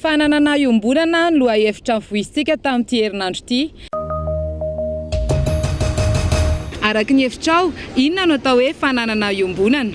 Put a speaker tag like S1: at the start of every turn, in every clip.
S1: Fananana iombonana no lohahevitra nivoizintsika tamin'ity herinandro ity. Araka ny hevitrao, inona no atao hoe fananana iombonana?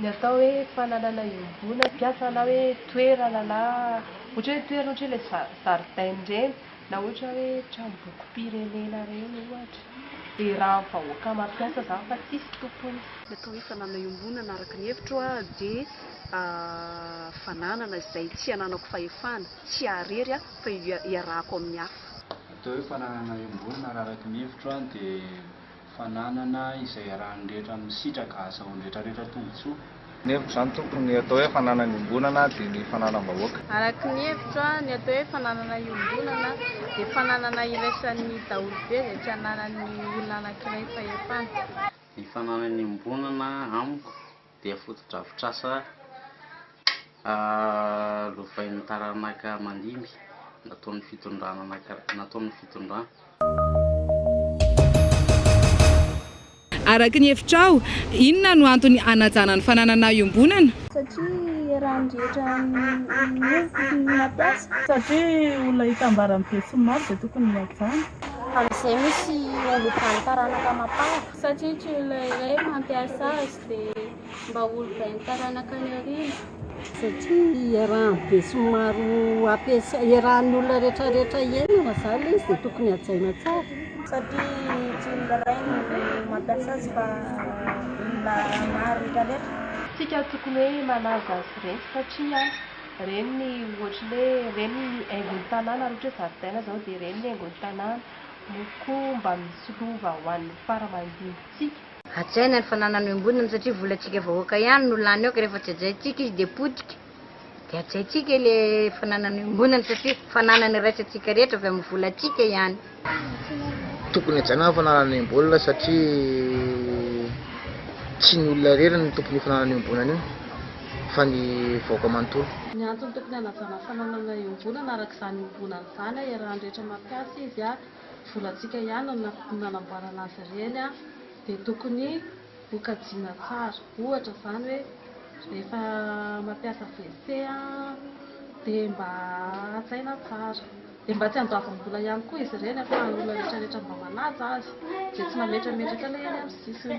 S2: Ny atao
S3: hoe fananana iombona mpiasa na hoe toerana na ohatra hoe toerana ohatra hoe ilay zaridaina ireny na ohatra hoe tranombokim-pirenena ireny ohatra, dia irahan'ny vahoaka mampiasa izany fa tsisy tompony. Ny atao hoe fananana
S4: iombonana araka ny hevitro aho dia fananana izay tsy ananako fahefana, tsy ahy irery fa iarahako amin'ny hafa. Ny atao hoe fananana
S5: iombonana raha araka ny hevitro aho dia. Fananana izay iarahan'ny rehetra misitraka hahazahoan'ny rehetrarehetra tombontsoa. Ny hevitro izany
S6: tompoko, ny atao hoe fananana iombonana dia ny fananam-bahoaka. Araka ny hevitro
S2: aho, ny atao hoe fananana iombonana dia fananana iraisan'ny daholo be izay tsy ananan'ny olona anankiray fahefana. Ny fananana
S7: iombonana amiko dia fotodrafitrasa lovain'ny taranaka aman-dimby nataon'ny fitondrana.
S1: Araka ny hevitrao, inona no antony hanajana ny fananana iombonana? Satria
S2: eran'ny rehetra miova ny mampiasa. Satria olona
S8: hitambaran'ny besinimaro dia tokony hihajana. Amin'izay
S2: misy olom-bano taranaka amam-para. Satria tsy olona iray mampiasa azy. dia mba ho olovain'ny taranaka any aoriana.
S9: Satria iarahan'ny besinimaro ampiasa, iarahan'ny olona rehetra rehetra iainana izany ilay izy dia tokony hajaina tsara. Satria tsy
S2: olona iray no mampiasa azy fa olona maro rehetra rehetra. Tsika tokony
S3: hoe manaja azy ireny satria ireny ny ohatry ny hoe ireny ny haingon'ny tanàna raha ohatra hoe zaridaina izao dia ireny ny haingon'ny tanàna no koa mba misolova ho an'ny fara mandimby tsika. Hajaina ny
S10: fananany ombonana satria volantsika vahoaka ihany no lany ao ka rehefa tsy hajaintsika izy dia potika dia hajaintsika ilay fananany ombonana satria fananany iraisantsika rehetra avy amin'ny volantsika ihany.
S6: Tokony hajaina ny fananany ombonana satria tsy ny olona irery no tompon'io fananany ombonana io fa ny vahoaka manontolo. Ny antony tokony
S8: hanajana ny fananana ombonana araka izany ombonana izany iarahan'ny rehetra mampiasa izy. volantsika ihany no nanamboarana azy ireny dia tokony ho kajiana tsara. Ohatra izany hoe rehefa mampiasa WC dia mba hajaina tsara. Dia mba tsy handoavam-bola ihany koa izy ireny fa ny olona rehetra rehetra mba manaja azy dia tsy mametrametraka ilay eny amin'ny sisiny.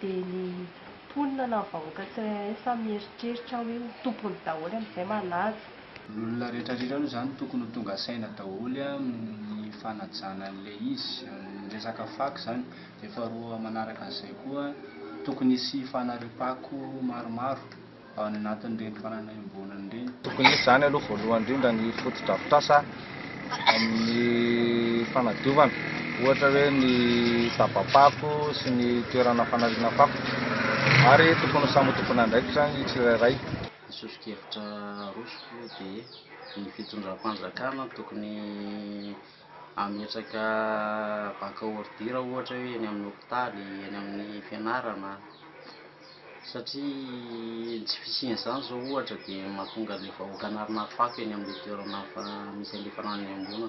S3: Dia ny mponina na ny vahoaka tsirairay samy mieritreritra hoe ho tompony daholo amin'izay manaja. Ny olona rehetra
S5: rehetra aloha izany tokony ho tonga saina daholo amin'ny fanajana an'ilay izy, ny resaka fako izany. Dia faharoa manaraka an'izay koa tokony hisy fanariam-pako maromaro. ao anatin'ireny fananahim-boanany ireny. Tokony hisy izany aloha
S6: voalohany indrindra ny fotodrafitrasa amin'ny fanadiovana, ohatra hoe ny daba-pako sy ny toerana fanariana fako ary tokony ho samy ho tompon'andraikitra ny tsirairay. Ny soso-kevitra
S7: arosoko dia ny fitondram-panjakana no tokony hametraka banque ordure ohatra hoe eny amin'ny hopitaly, eny amin'ny fianarana. satria ny tsy fisian'izany izao ohatra dia mahatonga ilay vahoaka an'arina fako eny amin'ilay toerana misy an'ilay fananana iombonana.